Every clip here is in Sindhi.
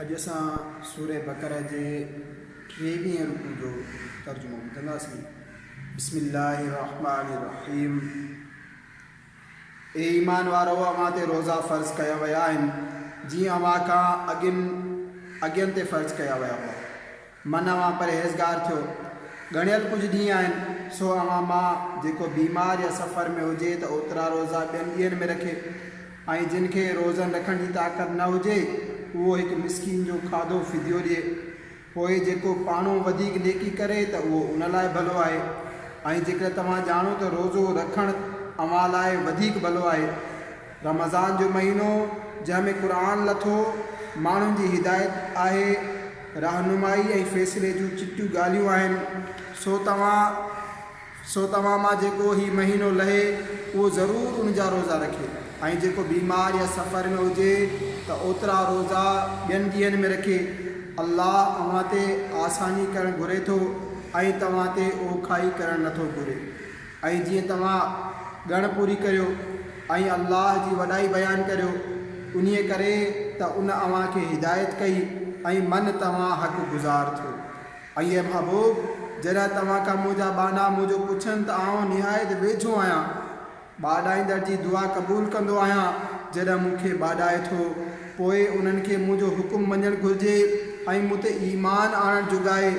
اڄ اسان سورة بقرة جي ٽيويهين رڪوع جو ترجمو ٻڌنداسين. بسم الله الرحمن الرحيم اي ايمان وارؤ اوهان تي روزا فرض ڪيا ويا آهن جيئن اوهان کان اڳين اڳين تي فرض ڪيا ويا هئا. من اوهان پرهيزگار ٿيو. ڳڻيل ڪجهه ڏينهن آهن، سو اوهان مان جيڪو بيمار يا سفر ۾ هجي ته اوترا روزا ٻين ڏينهن ۾ رکي ۽ جن کي روزن رکڻ جي طاقت نه هجي اهو هڪ مسڪين جو کاڌو فديو ڏئي. پوء جيڪو پاڻهون وڌيڪ نيڪي ڪري ته اهو ان لاء ڀلو آهي ۽ جيڪڏهن توهان ڄاڻو ته روزو رکڻ اوهان لاء وڌيڪ ڀلو آهي. رمضان جو مهينو جنهن ۾ قرآن لٿو، ماڻهن جي هدايت آهي، رهنمائي ۽ فيصلي جون چٽيون ڳالهيون آهن، سو توهان سو توهان مان جيڪو هي مهينو لهي اهو ضرور ان جا روزا رکي ۽ جيڪو بيمار يا سفر ۾ هجي ته اوترا روزا ٻين ڏينهن ۾ رکي، الله اوهان تي آساني ڪرڻ گهري ٿو ۽ توهان تي اوکائي ڪرڻ نٿو گهري. ۽ جيئن توهان ڳڻ پوري ڪريو ۽ الله جي وڏائي بيان ڪريو، انهيء ڪري ته ان اوهان کي هدايت ڪئي ۽ من توهان حق گذار ٿيو. ۽ اي محبوب! جڏهن توهان کان منهنجا ٻانها منهنجو پڇن ته آئون نهايت ويجهو آهيان، ٻاڏائيندڙ جي دعا قبول ڪندو آهيان، جڏهن مون کي ٻاڏائي ٿو، پوء انهن کي منهنجو حڪم مڃڻ گهرجي ۽ مون تي ايمان آڻڻ جوڳائي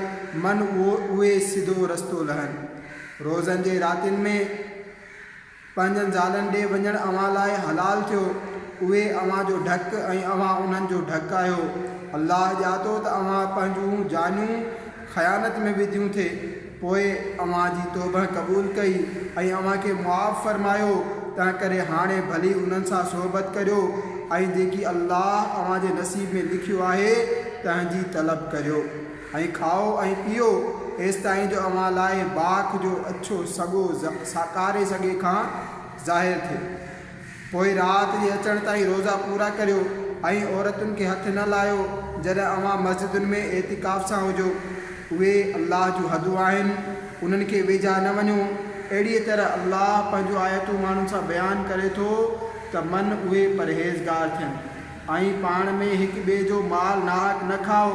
من اهي سڌو رستو لهن. روزن جي راتين ۾ پنهنجن زالن ڏي وڃڻ اوهان لاء حلال ٿيو، اهي اوهان جو ڍڪ ۽ اوهان انهن جو ڍڪ آهيو. الله ڄاتو ته اوهان پنهنجون جانيون خيانت ۾ وڌيون ٿي، پوء اوهان جي توبهه قبول ڪئي ۽ اوهان کي معاف فرمايو، تنهنڪري هاڻي ڀلي انهن سان صحبت ڪريو ۽ جيڪي الله اوهان جي نصيب ۾ لکيو آهي، تنهن جي طلب ڪريو. ائين کائو ۽ پيئو ايستائين جو اوهان لاء باک جو اڇو سڳو ساڪاري سڳي کان ظاهر ٿئي. پوء رات جي اچڻ تائين روزا پورا ڪريو ۽ عورتن کي هٿ نه لاهيو جڏهن اوهان مسجدن ۾ اعتڪاف سان هجو. اهي الله جون حدون آهن، انهن کي ويجها نه وڃو. اهڙيء طرح الله پنهنجون آيتون ماڻهن سان بيان ڪري ٿو ته من اهي پرهيزگار ٿين. ۽ پاڻ ۾ هڪ ٻئي جو مال ناحق نه کائو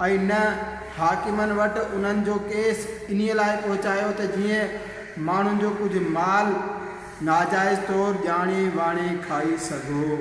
۽ نه حاڪمن وٽ انهن جو ڪيس انهيء لاء پهچايو ته جيئن ماڻهن جو ڪجهه مال ناجائز طور ڄاڻي واڻي کائي سگهو.